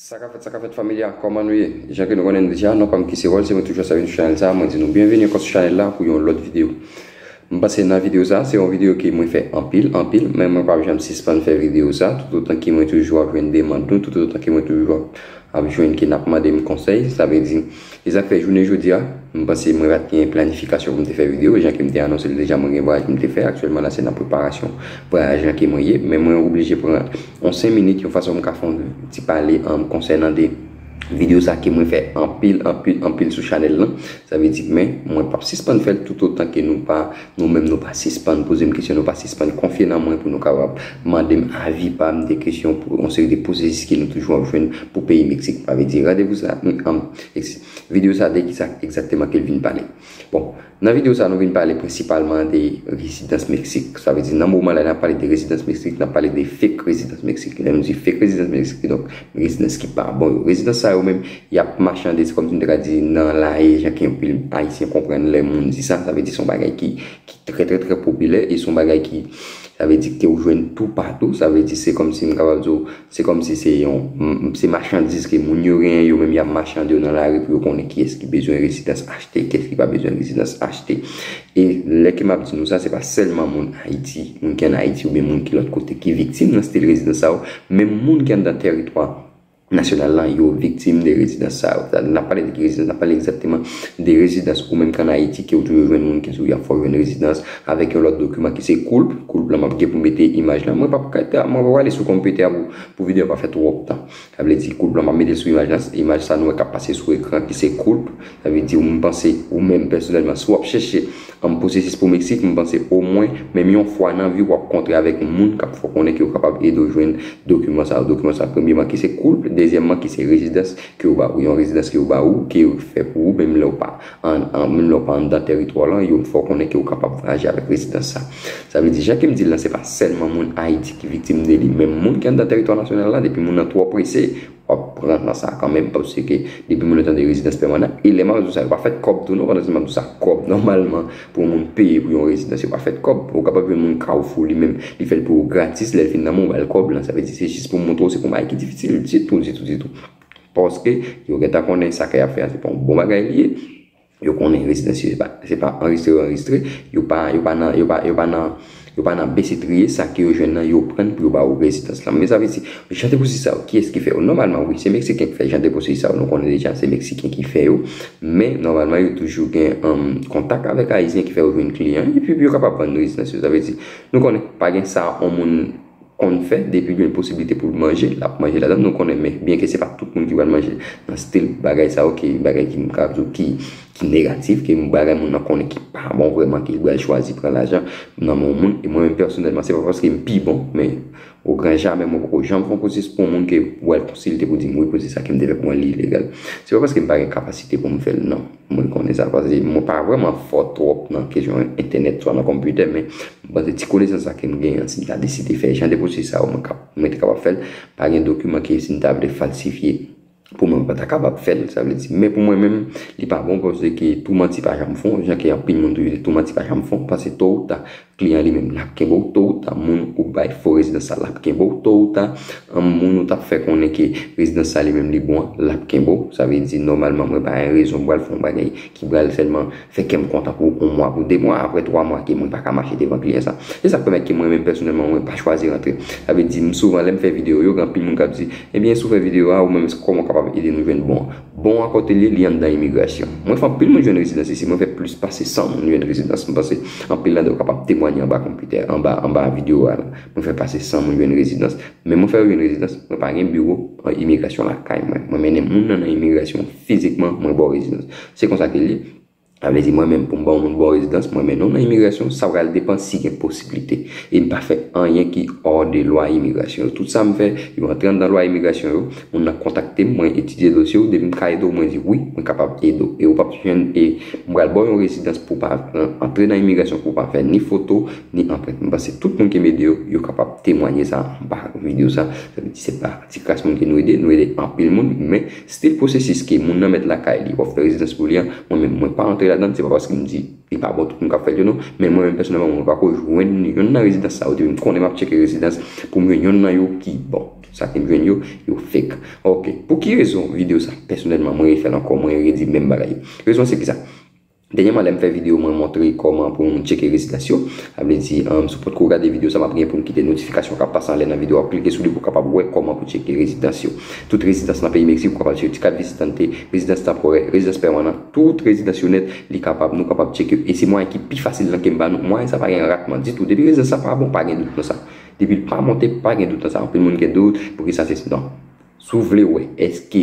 Sakafèt sakafèt family a kòman nou ye jan ke nou konnen nou deja nou pam ki se ròl se mwen toujou sa vin sou chanèl sa mwen di nou byenvini ankò sou chanèl la pou yon lòt video m panse nan video sa se yon video ke mwen fè anpil anpil men mwen pap janm sispann fè video sa toutotan ke mwen toujou ap jwenn demand nou toutotan ke mwen toujou ap jwenn ke nap mandem konsèy sa vle di. E sa k fè jounen jodi a, m panse mwen pa t gen planifikasyon pou m te fè videyo, jan ke m te anonse l deja mwen gen vwayaj pou m te fè, aktyèlman la se nan preparasyon vwayaj lan ke mwen ye, men mwen oblije pran yon 5 minit yon fason m ka fè yon ti pale konsènan de videyo sa ke mwen fè anpil, anpil, anpil sou chanèl lan, sa vle di men mwen p ap sispann fè l toutotan ke nou pa. Nou menm nou pa sispann poze m kesyon, nou pa sispann konfye nan mwen pou nou kapab mande m avi pa m de kesyon pou yon seri de pwosesis ke nou toujou ap jwenn pou peyi Meksik. M pa vle di randevou sa a, men anm, eks. Videyo sa a de ki sa egzakteman ke l vin pale? Bon, nan videyo sa a nou vin pale prensipalman de rezidans Meksik. Sa vle di nan moman la lè n ap pale de rezidans Meksik, n ap pale de fake rezidans Meksik. Lè nou di fake rezidans Meksik, kidonk. Residans ki pa bon yo. Residans sa yo menm, y ap machande, se kòm si m te ka di nan laye, jan ke anpil Ayisyen konprann lè moun di sa, sa vle di se yon bagay ki trè trè trè popilè e se yon bagay ki, sa vle di ke ou jwenn toupatou, sa vle di se kòm si m kapab di ou, se kòm si se yon, se machandiz ke moun yo genyen, yo menm y ap machande yo nan lari pou yo konnen kiyès ki bezwen residans achte, kiyès ki pa bezwen residans achte. E lè ke map di nou sa, se pa sèlman moun Ayiti, moun ki an Ayiti oubyen moun ki lòt kote ki viktim nan stil rezidans sa yo, menm moun ki anndan teritwa nasyonal la, yo viktim de rezidans sa yo. Lè nap pale de ki rezidans, nap pale egzakteman de rezidans ou menm ki an Ayiti ke ou toujou jwenn moun ki di ou yap fè ou jwenn rezidans avèk yon lòt dokiman ki se koulp, koulp la map gen pou mete imaj la, mwen pap ka, mwen pap ale sou konpitè a pou videyo a pa fè twòp tan. Sa vle di koulp lan map metel sou imaj lan, imaj sa nou wè kap pase sou ekran ki se koulp, sa vle di m panse ou menm pèsonèlman si wap chèche an pwosesis pou Meksik m panse omwen menm yon fwa nan viw wap kontre avèk moun kap fè w konnen ke yo kapab ede w jwenn dokiman sa yo, dokiman sa premyeman ki se koulp, dezyèmman ki se rezidans ke yo ba ou, yon rezidans ke yo ba ou ke yo fè pou ou menm lèw pa. An menm lè ou pa anndan tèritwa w lan, yo fè w konnen ke ou kapab vwayaje avèk rezidans sa. Sa vle di, jan ke m di l lan, se pa sèlman moun Ayiti ki viktim de li, menm moun ki anndan tèritwa nasyonal la, depi moun nan twò prese, w ap pran nan sa kanmenm, paske depi moun nan tande rezidans pèmanan, e lè m ap di w sa, yo pa fèt kòb tou non, pandan m ap di w sa, kòb nòmalman pou yon moun peye pou yon rezidans, yo pa fèt kòb. Ou kapab jwenn moun Carrefour li menm, li fè l pou ou gratis, lè l fin nan men w, ou ba l kòb lan. Sa vle di, se jis pou m montre w se pou bagay ki difisil ditou, ditou, ditou. Paske, yo gen tan konnen sa ke y ap fè a se pa yon bon bagay li ye. Yo konnen rezidans yo se pa anrejistre yo anrejistre. Yo pa nan, yo pa, yo pa nan, yo pa nan bese triye. Sa ke yo jwenn nan, yo pran pou yo ba ou rezidans la. Men sa vle di, jan de pwosesi sa yo, kiyès ki fè yo? Nòmalman, wi, se Meksiken ki fè jan de pwosesi sa yo. Nou konnen deja se Meksiken ki fè yo. Men, nòmalman, yo toujou gen kontak avèk Ayisyen ki fè yo jwenn kliyan. Epi, yo kapab vann rezidans yo. Sa vle di, nou konnen, pa gen sa yon moun konn fè depi gen posibilite pou l manje lap manje ladann nou konnen men byen ke se pa tout moun ki pral manje nan stil bagay sa yo ke bagay ki m ka di w ki ki negatif ke bagay moun nan konnen ki pa bon vrèman ke li pral chwazi pran lajan nan men yon moun e mwen menm pèsonèlman se pa paske m pi bon men ogran jamè mwen poko janm fè yon pwosesi pou yon moun ke wè l konsilte pou di m wi pwosesi sa ke m te fè pou mwen li ilegal se pa paske m pa gen kapasite pou m fè l nan. Mwen konnen sa pase mwen pa vreman fò twòp nan kesyon entènèt swa nan konpitè men mwen panse ti konesans sa kem genyen an si m ta deside fè jan de pwosesis sa yo mwen te kapab fèl pa gen dokiman ke si m ta vle falsifye pou mwen mwen pa ta kapab fèl sa vle di men pou mwen menm li pa bon paske tou manti pa janm fon jan ke anpil moun toujou di tou manti pa janm fon paske to ou ta Kliyan li menm lap kenbe w to ou ta moun ou bay fo rezidans sa lap kenbe w to ou ta an moun ou tap fè konnen ke rezidans sa li menm li bon an lap kenbe w sa vle di nòmalman mwen pa gen rezon pral fè yon bagay ki pral sèlman fè kè m kontan pou yon mwa pou de mwa aprè twa mwa ke mwen pa ka mache devan kliyan sa se sak pèmèt ke mwen menm pèsonèlman mwen pa chwazi rantre sa vle di m souvan lè m fè videyo yo gen anpil moun kap di ebyen si w fè videyo a ou menm kòman w kapab ede nou jwenn bon Bon a kote l ye li anndan imigrasyon. Mwen fè anpil moun jwenn rezidans isi mwen fè plis pase 100 moun jwenn rezidans m panse anpil nan nou kapab temwanye anba konpitè anba anba videyo a la mwen fè pase 100 moun jwenn rezidans men mwen fè yo jwenn rezidans mwen pa gen biwo imigrasyon lakay mwen mwen mennen moun nan nan imigrasyon fizikman mwen ba w rezidans se konsa ke l ye. Sa vle di mwen menm pou m ba yon moun bon rezidans mwen mennen w nan imigrasyon sa pral depan si gen posiblite e m pa fè anyen ki ò de lwa imigrasyon yo tout sa m fè yo antre anndan lwa imigrasyon yo moun nan kontakte m mwen etidye dosye w depi m ka ede w mwen di wi mwen kapab ede w e ou pap jwenn e m pral ba w yon rezidans pou w pa antre nan imigrasyon pou w pa fè ni foto ni anprent m panse tout moun ke m ede yo yo kapab temwanye sa anba videyo sa sa vle di se pa ti kras moun ke nou ede nou ede anpil moun men. Stil pwosesis ke moun nan mèt lakay li, wap fè rezidans pou li an, mwen menm mwen pa antre ladann, se pa paske m di li pa bon tout moun kap fèl yo non, men mwen menm pèsonèlman mwen pako jwenn yonn nan rezidans sa yo depi m konnen map tcheke rezidans poum jwenn yonn nan yo ki bon, sa kem jwenn yo, yo fek. Ok, pou ki rezon video sa pèsonèlman mwen refèl ankò mwen redi menm bagay yo. Rezon an se kisa? Dènyèman lèm fè video mwen montre kòman pou nou tcheke rezidans yo, sa vle di si w potko gade video sa map gen pou m kite notifikasyon kap pase anlè nan video a ou klike sou li pou w kapab wè kòman pou tcheke rezidans yo. Tout rezidans nan peyi Meksik ou kapab tcheke yo, ti kat vizitante, rezidans tanporè, rezidans pèmanan, tout rezidans yo nèt li kapab nou kapab tcheke yo e se mwayen ki pi fasil lan kem ba nou, mwayen sa pa gen ratman ditou depi rezidans la pa bon pa gen dout nan sa, depi l pa monte pa gen dout nan sa, anpil moun gen dout poukisa sesi non. Si w vle wè èske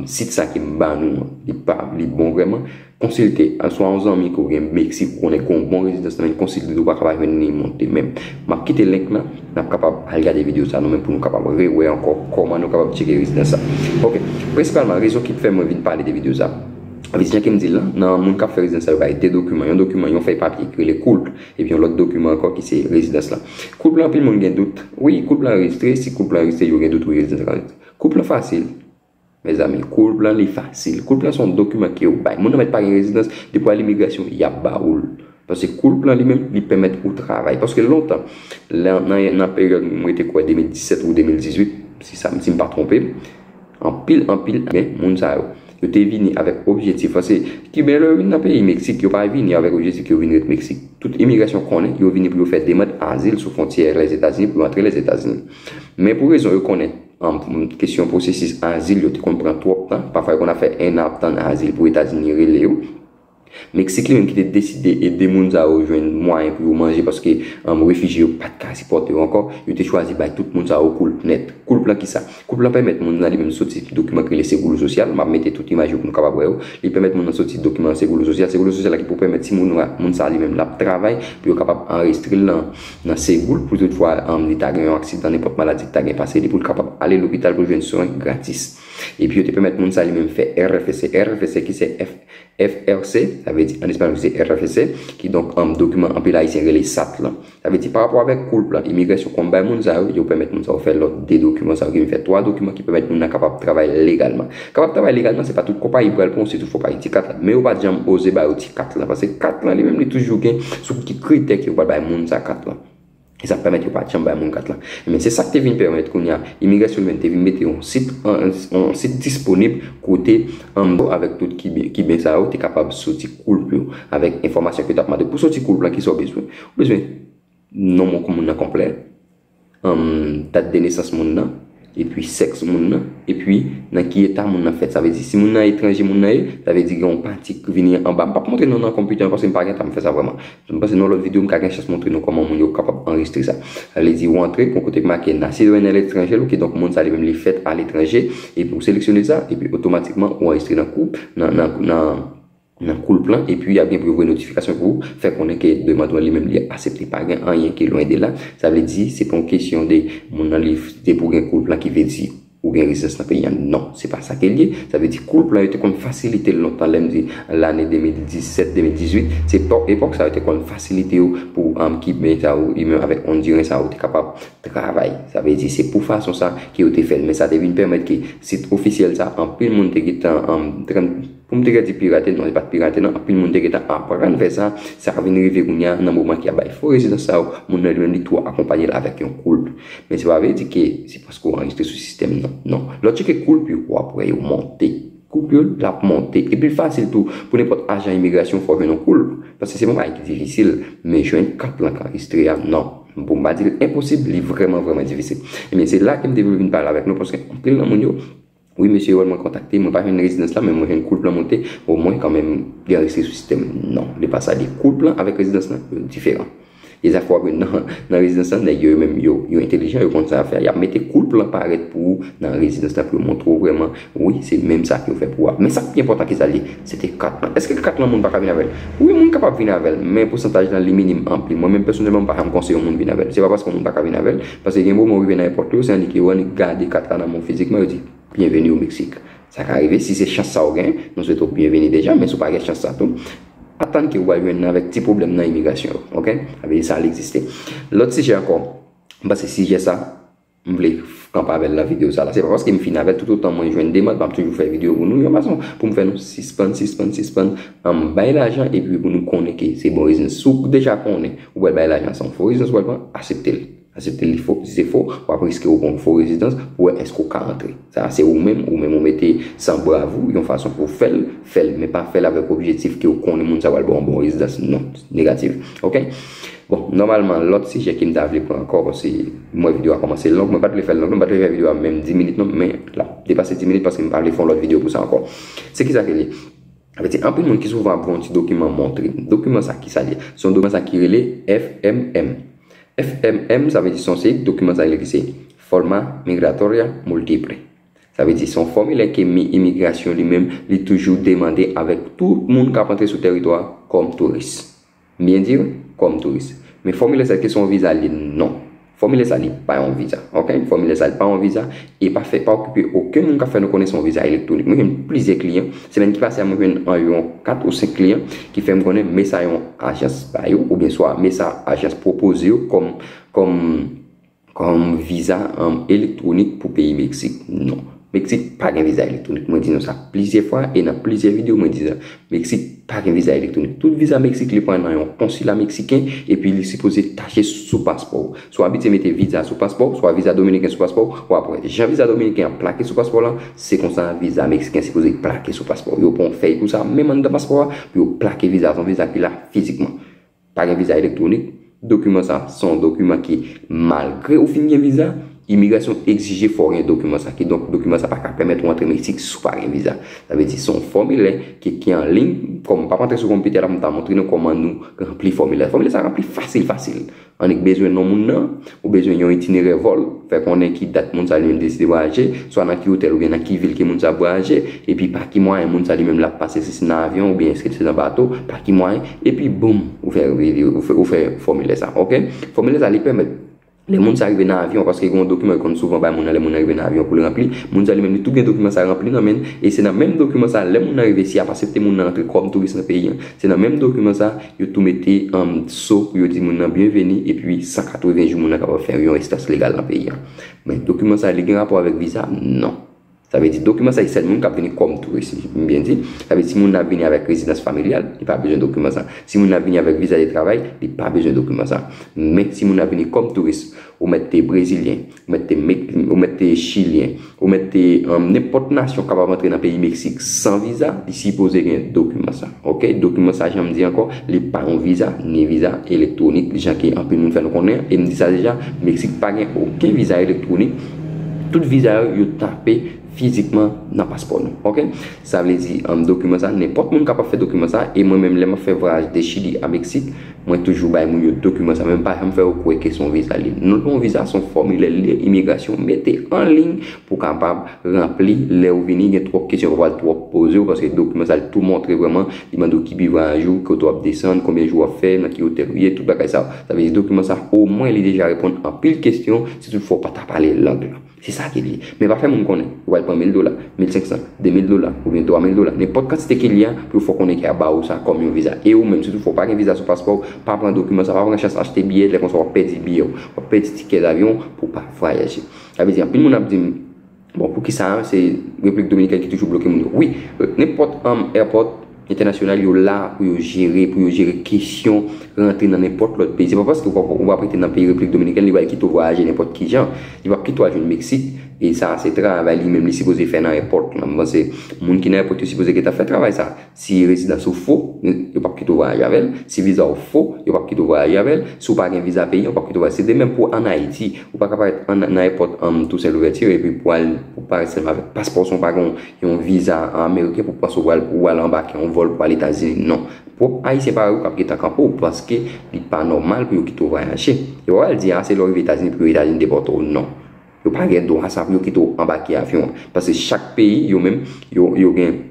sit sa ke m ba nou an li bon vrèman, konsilte swa yon zanmi ke w gen Meksik ou konnen ki gen yon bon rezidans nan konsilte l ou pa kapab jwenn li monte men m ap kite link lan n ap kapab al gade videyo sa nou menm pou nou kapab rewè ankò kòman nou kapab tcheke rezidans sa ok prensipalman rezon ki fè mwen vin pale de videyo sa paske jan ke m di l lan moun k ap fè rezidans sa yo bay de dokiman yon dokiman yon fèy papye ki rele cool Epi yon lòt dokiman ankò ki se rezidans lan. Koup lan anpil moun gen dout. Wi, koup lan anrejistre, si koup lan anrejistre yo gen dout wi rezidans lan anrejistre. Koup lan fasil. Mezanmi, koup lan li fasil. Koup lan se yon dokiman ke yo bay. Moun nan mèt pa gen rezidans, depi w al imigrasyon, y ap ba ou l. Paske koup lan li menm, li pèmèt ou travay. Paske lontan, nan peryòd mwen te kwè 2017 ou 2018, si m pa twonpe m. Anpil anpil men moun sa yo. Yo te vini avèk objetif lan se kiben lè yo vin nan peyi meksik yo pa vini avèk objetik yo vin ret meksik tout imigrasyon konnen yo vini pou yo fè demand azil sou fontyè lèzetazini pou yo antre lèzetazini men pou rezon yo konnen kesyon pwosesis azil yo te konn pran twòp tan pafwa yo konn ap fè 1 an ap tann azil pou etazini rele yo. Meksik li menm ki te deside ede moun sa yo jwenn mwayen pou yo manje paske refijye yo pa t ka sipòte yo ankò, yo te chwazi bay tout moun sa yo koulp nèt. Koulp lan kisa? Koulp lan pèmèt moun nan li menm soti dokiman ki rele seguro social, m ap mete tout imaj yo pou nou kapab wè yo, li pèmèt moun nan soti dokiman seguro social, seguro social la ki pou pèmèt si moun moun sa li menm l ap travay pou yo kapab anrejistre l nan segou l pou tout fwa li ta gen yon aksidan nenpòt maladi ki ta gen pase li pou l kapab ale lopital pou l jwenn swen gratis. Epi yo te pèmèt moun sa li menm fè RFC. RFC ki se. FRC, sa vle di an espanyòl se RFC, ki donk dokiman anpil Ayisyen rele sat lan. Sa vle di parapò avèk koulp lan, imigrasyon konn bay moun sa yo, yo pèmèt moun sa yo fè lòt de dokiman sa ki vin fè twa dokiman ki pèmèt moun nan kapab travay legalman. Kapab travay legalman se pa tout konpayi ki pral pran w sitou fò w pa gen ti kat la. Men yo pa janm oze ba yo ti kat lan paske kat lan li menm li toujou gen sou ki kritè ke yo pral bay moun sa kat lan. E sa pèmèt yo pa t janm bay moun kat la. Ebyen, se sa k te vin pèmèt kounye a, imigrasyon Libanè te vin mete yon sit, yon sit disponib kote Amdo avèk tout Kiben, Kiben sa yo te kapab soti koulp yo avèk enfòmasyon ke yo t ap mande. Pou soti koulp lan, ki sa ou bezwen? Ou bezwen non moun nan konplè, dat de nesans moun nan. epi sèks moun nan, epi nan ki eta moun nan fèt. Sa vle di si moun nan etranje moun nan ye, sa vle di gen yon pati ki vini anba. M pap montre nou nan konpitè an paske m pa gen tan pou m fè sa vrèman. M panse nan yon lòt videyo m ka gen chans montre nou kòman moun yo kapab anrejistre sa. Sa vle di ou antre, gen yon kote ki make Nacido en el extranjero ki donk moun sa li menm li fèt aletranje, epi ou seleksyone sa, epi otomatikman ou anrejistre nan koup, nan, nan, nan. nan koulp lan epi yap gen pou yo voye notifikasyon pou ou fè konnen ke demand ou an li menm li asepte pa gen anyen ki lwen de la sa vle di se pa yon kesyon de moun nan li depi ou gen koulp lan ki vle di ou gen rezidans nan peyi an non se pa sa ke li ye sa vle di koulp lan yo te konn fasilite l lontan lèm di lane 2017 2018 se epòk sa yo te konn fasilite yo pou kiben sa yo menm avèk ondiren sa yo te kapab travay sa vle di se pou fason sa ke yo te fè l men sa te vin pèmèt ke sit ofisyèl sa anpil moun te gentan Pou m te ka di pirate, non li pa t pirate non, anpil moun te gentan aprann fè sa, sa vin rive kounya nan moman ki ap bay fo rezidans sa yo, moun nan li menm li tou akonpanye l avèk yon koulp. Men se pa vle di ke se paske w anrejistre sou sistèm nan, non. Lè w tcheke koulp yo, w ap wè yo monte. Koulp yo, l ap monte. Epi l fasil tou pou nenpòt ajan imigrasyon fè w jwenn yon koulp, paske se pa yon bagay ki difisil, men jwenn kat lan k anrejistre a, non. Pou m pa di l enposib, li vrèman vrèman difisil. Ebyen se la ke m te vle vin pale avèk nou, paske anpil nan moun yo, Wi mesye wè mwen kontakte mwen pa jwenn rezidans la men mwen jwenn koulp lan monte o mwen kan menm gen restriksyon sou sistèm non li pa sa li koulp lan avèk rezidans lan yo diferan e zafè wap jwenn nan nan rezidans lan nèg yo yo menm yo yo entelijan yo konn sa yap fè yap mete koulp lan parèt pou ou nan rezidans lan pou yo montre w vrèman wi se menm sa yo fè pou a men sak pi enpòtan kisa l ye se te kat lan èske kat lan moun paka vin avèl wi moun kapab vin avèl men pousantaj lan li minim anpli mwen menm pèsonèlman m pa janm konseye yon moun vin avèl se pa paske yon moun paka vin avèl Paske gen moman ou rive nan èpòt yo, se annik yo annik gade kat la nan men w fizikman, yo di, Byenveni o Meksik. Sa ka rive, si se chans sa ou gen, nou swete w byenveni deja, men si w pa gen chans sa tou, atann ke ou pral jwenn avèk ti pwoblèm nan imigrasyon yo. Ok? Sa vle di sa egziste. Lòt sijè ankò, m panse sijè sa, m vle kanpe avè l nan videyo sa la. Se pa paske m fin avè l, toutotan mwen jwenn demand, m ap toujou fè videyo pou nou, yon fason pou m fè nou sispann, sispann, sispann bay lajan epi pou nou konnen ke se bon biznis. Si w deja konnen Ou wè bay lajan san fo rezidans wal pran, aseptel. Aseptel li fo, si se fo, wap riske ou pran yon fo rezidans pou wè eske ou ka rantre. Sa a se ou menm, ou menm ou mete san brav ou, yon fason pou ou fèl, fèl. Men pa fèl avèk objetif ke ou konnen moun sa pral baw yon bon rezidans. Non. Negatif. Ok. Bon, nòmalman lòt sijè kem ta vle pran ankò paske m wè video a kòmanse long, mwen pat vle fèl long non, m pat vle fè video a menm 10 minit non, men lap depase 10 minit paske m pa vle fè yon lòt video pou sa ankò. Se kisa ke li? Sa vle di anpil moun ki souvan ap vè yon ti dokiman montre m. Dokiman sa ki sa l ye? Se yon dokiman sa ki rele FMM. FMM sa vle di se yon seri dokiman sa rele ki se Forma Migratoria Multiple. Sa vle di se yon fòmilè ke imigrasyon li menm li toujou demande avèk tout moun k ap antre sou teritwa kòm touris. M byen di yo? Kòm touris. Men fòmilè sa, èske se yon viza li? Non. Fòmilè sa li pa yon viza. Ok? Fòmilè sa li pa yon viza. E pa fè, pa okipe okenn moun k ap fè nou konnen se yon viza elektwonik. Mwen jwenn plizyè kliyan. Semèn ki pase a mwen jwenn anviwon 4 ou 5 kliyan ki fè m konnen men sa yon ajans ba yo oubyen swa men sa ajans pwopoze yo kòm, kòm. Kòm viza elektwonik pou peyi Meksik, non. Meksik pa gen viza elektwonik. Mwen di nou sa plizyè fwa e nan plizyè videyo mwen di sa. Meksik pa gen viza elektwonik. Tout viza Meksik li pran nan yon konsila Meksiken epi li sipoze tache sou paspò ou. Si w abitye mete viza sou paspò ou, oswa viza Dominiken sou paspò ou, w ap wè. Jan viza Dominiken an plake sou paspò w lan, se konsa viza Meksiken sipoze plake sou paspò ou. Yo pran yon fèy pou sa, menm anndan paspò a, pou yo plake viza a. Se yon viza ki la fizikman. Pa gen viza elektwonik, Dokiman sa se yon dokiman ki malgre ou fin gen viza, imigrasyon egzije fò w gen dokiman sa. Kidonk dokiman sa pa ka pèmèt ou antre Meksik si w pa gen viza. Sa vle di se yon fòmilè ki ki an liy, kòm m pa p antre sou konpitè la pou m ta montre nou kòman nou ranpli fòmilè. Fòmilè sa ranpli fasil fasil. Annik bezwen non moun nan. Ou bezwen yon itinerè vòl. Fè konnen ki dat moun sa li menm deside vwayaje, swa nan ki otèl oubyen nan ki vil ke moun sa ap vwayaje, epi pa ki mwayen moun sa li menm lap pase, si se nan avyon oubyen eske se nan bato, pa ki mwayen, epi boom, ou fè ou fè fòmilè sa. Ok. Fòmilè sa li pèmèt lè moun sa rive nan avyon, paske gen yon dokiman yo konn souvan bay moun nan lè moun nan rive nan avyon pou l ranpli, moun sa li menm li tou gen dokiman sa ranpli nan men l, e se nan menm dokiman sa lè moun nan rive si y ap asepte moun nan rantre kòm touris nan peyi an, se nan menm dokiman sa. Yo tou mete an dso pou yo di moun nan byenveni epi 180 jou moun nan kapab fè yon residanse legal nan peyi an. Men dokiman sa li gen rapò avèk viza? Non. Sa vle di dokiman sa se sèl moun k ap vini kòm touris si m byen di. Sa vle di si moun nan ap vini avèk rezidans familyal, li pa bezwen dokiman sa. Si moun nan ap vini avèk viza de travay, li pa bezwen dokiman sa. Men si moun nan ap vini kòm touris, ou mèt te brezilyen, Ou mèt te Mek, ou mèt te Chilyen, ou mèt te nenpòt nasyon kapab antre nan peyi Meksik san viza, li sipoze gen dokiman sa. Ok, dokiman sa jan m di ankò, li pa yon viza, ni viza elektwonik jan ke anpil moun fè nou konnen, e m di sa deja, Meksik pa gen oken viza elektwonik, tout viza yo, yo tape fizikman nan paspò nou. Ok, sa vle di, dokiman sa, nenpòt moun kapab fè dokiman sa, e mwen menm lè m ap fè vwayaj de Chili a Meksik, Mwen toujou bay moun yo dokiman sa men m pa janm fè yo kwè ke se yon viza liy. Non, yon viza se yon fòmilè liy imigrasyon mete an liy pou kapab ranpli lè ou vini gen twòp kesyon yo pral twòp poze ou paske dokiman sa li tou montre vrèman li mande ou ki vivwayaj ou, kote w ap desann, konbyen jou w ap fè, nan ki otèl ou ye, tout bagay sa yo. Sa vle di dokiman sa omwen li deja reponn anpil kesyon si tout fwa ou pa ta pale lang lan. Se sa ke li. Men pa fè moun konnen. Yo pral pran mil dola, mil senk san, de mil dola, oubyen twa mil dola, nenpòt kantite ke li a, pou yo fè w konnen ke a ba ou sa kòm yon viza. E ou menm, si tou fwa ou pa gen viza sou paspò ou, pa pran dokiman sa, pa pran chans achte biyè, lè konsa w ap pèdi biyè w. W ap pèdi tikè davyon w pou w pa vwayaje. Sa vle di anpil moun ap di m, bon, poukisa se Repiblik Dominikèn ki toujou bloke moun yo. Wi, nenpòt airport. Entènasyonal yo la pou yo jere, pou yo jere kesyon rantre nan nenpòt lòt peyi. Se pa paske ou pa prete nan peyi Repiblik Dominikèn li pral kite ou vwayaje nenpòt ki jan. Li pap kite ou al jwenn Meksik e sa a se travay li menm li sipoze fè nan èpòt lan. M panse moun ki nan èpòt yo sipoze gentan fè travay sa a. Si rezidans ou fo, yo pap kite ou vwayaje avè l. Si viza ou fo, yo pap kite ou vwayaje avè l. Si ou pa gen viza peyi an, yo pap kite ou vwayaje. Se de menm pou ann Ayiti. Ou pa ka parèt nan èpòt Toussaint Louverture epi pou al parèt sèlman avèk paspò san ou pa gen yon yon viza ameriken pou panse ou al anbake yon vòl pou al etazini non pwòp ayisyen parèy ou kap gentan kanpe ou paske li pa nòmal pou yo kite ou vwayaje yo pral di a se lè ou rive etazini pou yo etazini depòte ou non yo pa gen dwa sa pou yo kite ou anbake avyon an paske chak peyi yo menm yo gen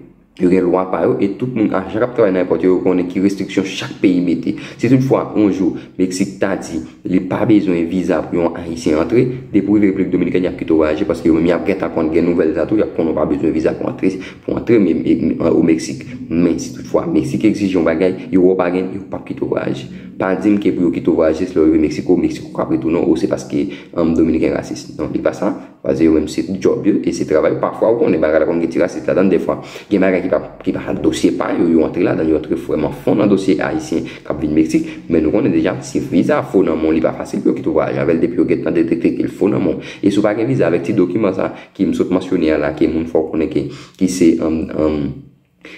yo gen lwa pa yo e tout moun ajan kap travay nan èpòt yo yo konnen ki restriksyon chak peyi mete si tout fwa yon jou meksik ta di Li pa bezwen viza pou yon ayisyen antre, depi ou rive repiblik dominikèn yap kite w vwayaje paske yo menm yap gentan konn gen nouvèl sa tou yap konnen ou pa bezwen viza pou antre pou antre o meksik men si tout fwa meksik egzije yon bagay yo wè w pa gen yo pap kite w vwayaje pa di m ke pou yo kite w vwayaje se lè w rive meksiko meksiko kap retounen w ou se paske anm dominiken rasis non li pa sa. Paske yo menm se djòb yo e se travay yo. Pafwa ou konnen bagay la konn gen ti rasis ladan l dèfwa. Gen bagay ki pa ki pa dosye pa yo, yo antre ladan l, yo antre vrèman fon nan dosye ayisyen k ap vin Meksik. Men nou konnen deja si viza fo nan men w li pa fasil pou yo kite w vwayaje avè l depi yo gen tan detekte ke l fo nan men w. E si w pa gen viza avèk ti dokiman sa ki m sot mansyone a la ke moun fò w konnen ke ki se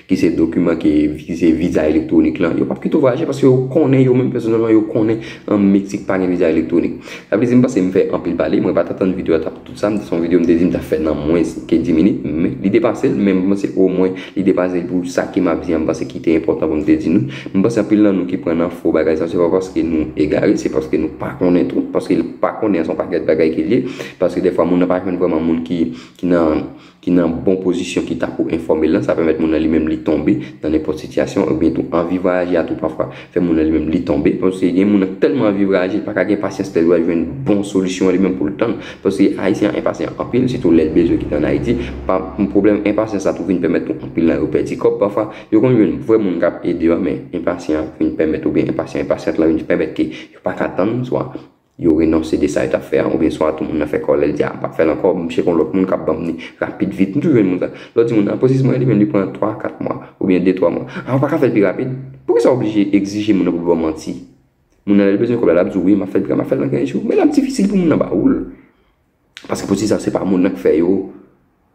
ki se dokiman ki vize viza elektwonik lan, yo pap kite w vwayaje paske yo konnen yo menm pèsonèlman yo konnen an Meksik pa gen viza elektwonik. Sa vle di m panse m fè anpil pale, mwen pa t atann videyo a t ap tout sa, m se yon videyo m te di m t ap fè nan mwens ke 10 minit, men li depase l, men m panse omwen li depase l pou sa ke m ap di an m panse ki te enpòtan pou m te di nou. M panse anpil nan nou ki pran nan fo bagay sa se pa paske nou egare, se paske nou pa konnen tou, paske pa konnen an se yon pakèt bagay ke l ye, paske dèfwa moun nan pa jwenn vrèman moun ki nan. ki nan bon pozisyon ki ta pou enfòme l lan, sa pèmèt moun nan li menm li tonbe nan nenpòt sitiyasyon oubyen tou anvi vwayaje a tou pafwa fè moun nan li menm li tonbe paske gen moun nan k tèlman anvi vwayaje l pa ka gen pasyans lè l wè l jwenn bon solisyon an li menm pou l tann paske ayisyen an enpasyan anpil sitou lè l bezwen kite ann Ayiti pa pwoblèm enpasyans la tou vin pèmèt tou anpil nan yo pèdi kòb pafwa yo konn jwenn vrè moun k ap ede yo men enpasyan vin pèmèt oubyen enpasyan enpasyant la vin pèmèt ke yo pa ka tann swa Yo renonse de sa yo tap fè an oubyen swa tou moun nan fè kòlè li di a m pap fè l ankò m chèke yon lòt moun kap banm li rapid vit m toujou jwenn moun sa lè w di moun an pwosesi mwen li menm li pran 3 4 mwa oubyen 2 3 mwa a ou paka fè l pi rapid poukisa w oblije egzije moun nan pou l ba w manti moun nan lè l bezwen kòb la lap di w wi map fè l pi rapid map fè l nan 15 jou men lap difisil pou moun nan ba ou l. Paske pou ti sa se pa moun nan k fè yo,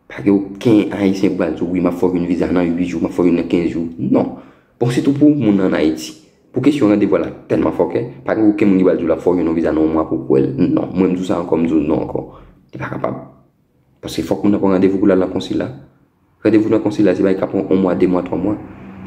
pa gen oken Ayisyen k pral di w wi m ap fè w yon viza nan 8 jou, m ap fè w youn nan 15 jou. Non! Bon sitou pou moun nan an Ayiti. Pou kesyon randevou a l ap tèlman fòkè, pa gen oken moun ki pral di w l ap fè w youn nan viza nan yon mwa pou w wè l. Non! Mwen m di w sa ankò, m di w non ankò. Li pa kapab. Paske fòk moun nan pran randevou pou l al nan konsila. Randevou nan konsila se bagay ka pran 1 mwa, 2 mwa, 3 mwa.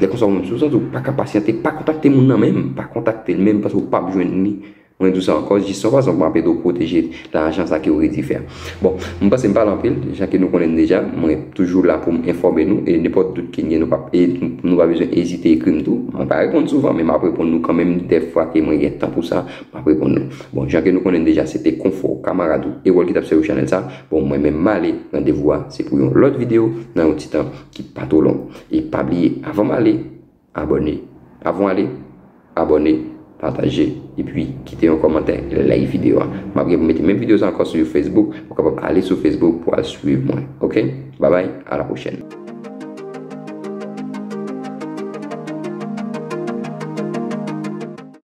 Lè konsa ou menm si ou santi ou pa ka pasyante, pa kontakte moun nan menm, pa kontakte l menm paske ou pap jwenn li. Mwen di w sa ankò, jis yon fason pou anpe de w pwoteje lajan sa ke ou redi fè a. Bon, m panse m pale anpil, jan ke nou konnen m deja, mwen toujou la pou m enfòme nou e nenpòt dout ke n gen nou pa e nou pa bezwen ezite ekri m tou. Mwen pa reponn souvan men m ap reponn nou kanmenm dè fwa ke mwen gen tan pou sa, m ap reponn nou. Bon, jan ke nou konnen n deja se te Konfò, kamarad ou e wòl ki t ap sèvi w chanèl sa. Bon mwen menm male randevou a se pou yon lòt video nan yon ti tan ki pa two long e pa bliye avan male abòne avan w ale abòne pataje epi kite yon kòmantè like video a map gen pou mete menm video sa ankò sou facebook ou kapab ale sou facebook pou al swiv mwen ok babay a la pwochèn.